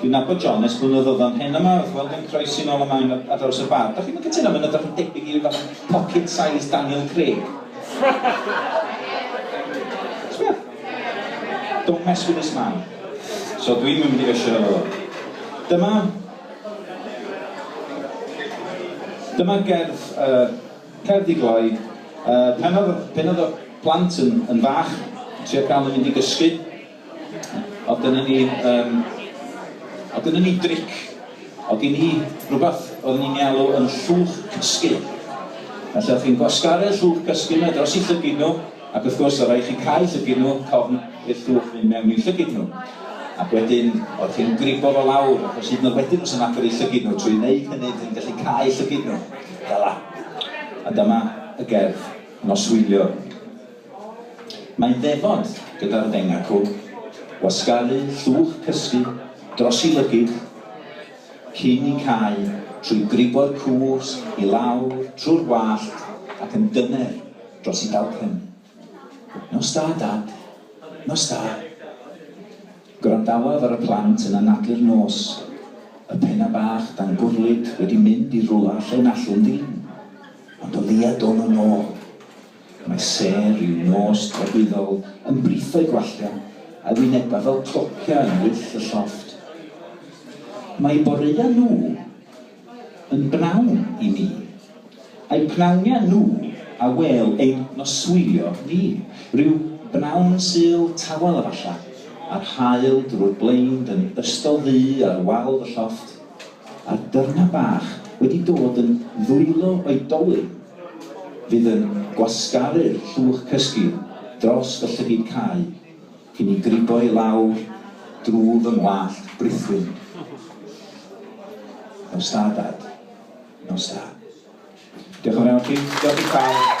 Dwi'n nabod John ers blynyddodd oedd o'n hen yma wrth weld e'n croesi'n ol yma yn ar draws y bar. Dach chi'm yn cytuno mae'n edrych yn debyg i ryw fath o pocket sized Daniel Craig? Sbia. Don't mess with this man. So dwi'm yn mynd i fyshio efo fo. Dyma dyma gerdd yy cerdd i gloi yy pan o'dd pan o'dd y plant yn yn fach yn trio ca'l nw mynd i gysgu O'dd gynnon ni yym o'dd gynnon ni dric, o'dd gin i rwbath oeddwn i'n 'i alw yn llwch cysgu. Felly o'ch chi'n gwasgaru'r llwch cysgu 'ma dros 'u llygid nhw, ac wrth gwrs o'dd raid chi cau llygid nhw cofn i'r llwch fynd mewn i'w llygid nhw. Ac wedyn o'ch chi'n gribo fo lawr, achos hyd yn o'd wedyn fysa'n agor eu llygid nhw, trwy wneud hynny dych chi'n gallu cau llygid nhw. Fela. A dyma y gerdd, Noswylio. Mae'n ddefod gyda'r ddengau cwg, wasgaru llwch cysgu dros ei lygid cyn i cau trwy gribo'r cws i lawr trwy'r wallt ac yn dyner dros ei dalcen. Nos da, Dad. Nos da. Gwrandawaf ar y plant yn anadlu'r nos, y pennau bach dan gwrlid wedi mynd i rwla lle nallwn ddim ond o leiaf dod nhw'n ôl. Mae sêr i'w nos dragwyddol yn brithau gwallau, a'i wynebau fel clociau yn wyll y llofft. Mae'u boreuau nhw yn bnawn i ni, a'u pnawniau nhw a wêl ein noswylio ni. Rhyw bnawn Sul tawel efallai, a'r haul drwy'r blaen'd yn ystod ddu ar wal fy llofft, a'r dyrnau bach wedi dod yn ddwylo o'i dolyn, Fydd yn gwasgaru'r llwch cysgu dros y llygid cau cyn i gribo i lawr drw fy ngwallt brithwyn. Nos da, Dad. Nos da. Diolch yn fawr chi. Diolch i bawb.